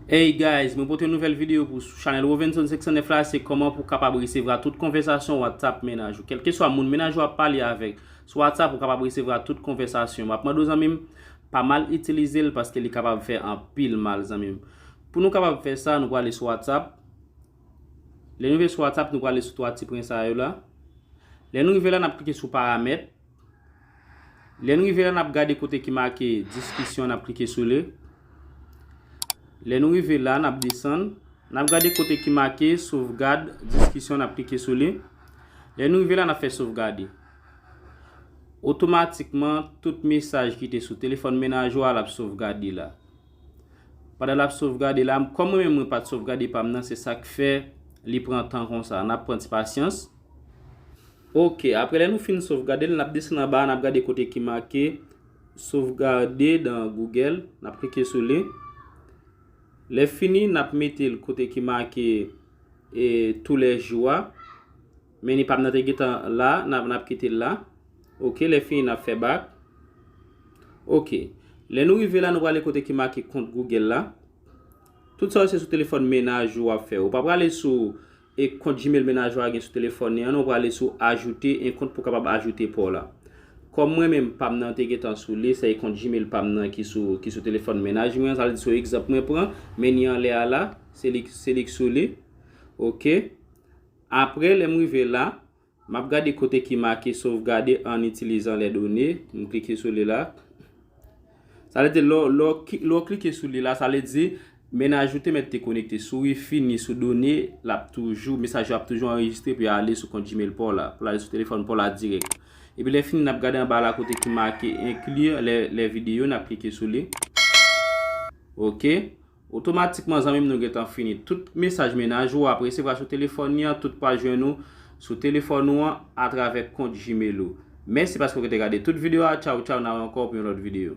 Hey guys, mwen pote yon nouvèl videyo pou sou chanèl Rovenson 509 la, se kòman pou kapab resevra tout konvèsasyon WhatsApp mennaj ou. Kèlkeswa moun mennaj ou ap pale avèk sou WhatsApp ou kapab resevra tout konvèsasyon. Map mande w zanmi m, pa mal itilize l paske li kapab fè anpil mal zanmi m. Pou nou kapab fè sa, nou prale sou WhatsApp. Lè nou rive sou WhatsApp, nou prale sou 3 ti pwen sa yo la. Lè nou rive la, nap klike sou paramèt. Lè n rive la n ap gade kote ki make Diskisyon n ap klike sou li. Lè nou rive la n ap desann. N ap gade kote ki make Sovgad Diskisyon n ap klike sou li. Lè nou rive la n ap fè Sovgade. Otomatikman tout mesaj ki te sou telefòn menaj ou a l ap sovgade la. Pandan l ap sovgade la, kòm mwen menm mwen pa t sovgade pa m nan se sa k fè li pran tan konsa. N ap pran ti pasyans. Ok, apre lè nou fin sovgade l, n ap desann anba a, n ap gade kote ki make Sauvegarde dans Google, n ap klike sou li. Lè fini, n ap mete l kote ki make e Tous les jours a. Men li pa nan te gentan la, n ap, n ap kite l la. Ok, lè fini n ap fè back. Ok, lè nou rive la, nou prale kote ki make Compte Google la. Tout sa yo se sou telefòn menaj ou w ap fè. Ou pa prale sou. e kont Gmail mennaj ou a gen sou telefòn li an non prale sou ajoute en kont pou kapab ajoute paw la kòm mwen menm pam nan te gentan sou li se kont Gmail pam nan ki sou ki sou telefòn mennaj mwen an sa vle di sou egzanp mwen pran meni anlè a la se li se li k sou li ok aprè lèm rive la. M ap gade kote ki make Sovgade an itilizan lè done. M klike sou li la. Sa vle di lè w klike sou li la, sa vle di menaj ou te mèt te konekte sou wifi ni sou done, l ap toujou, mesaj yo ap toujou anrejistre pou y ale sou kont Gmail pa w la, pou l ale sou telefòn pa w la dirèk. Epi lè fini n ap gade anba la kote ki make inclure les videos, n ap klike sou li. Ok. Otomatikman zanmi m nou gentan fini. Tout mesaj mennaj ou ap resevwa sou telefòn li an tout pral jwenn ou sou telefòn ou an atravè kont gmail ou. Mèsi paske ou rete gade tout video a tchaw tchaw nan rankò pou yon lòt video.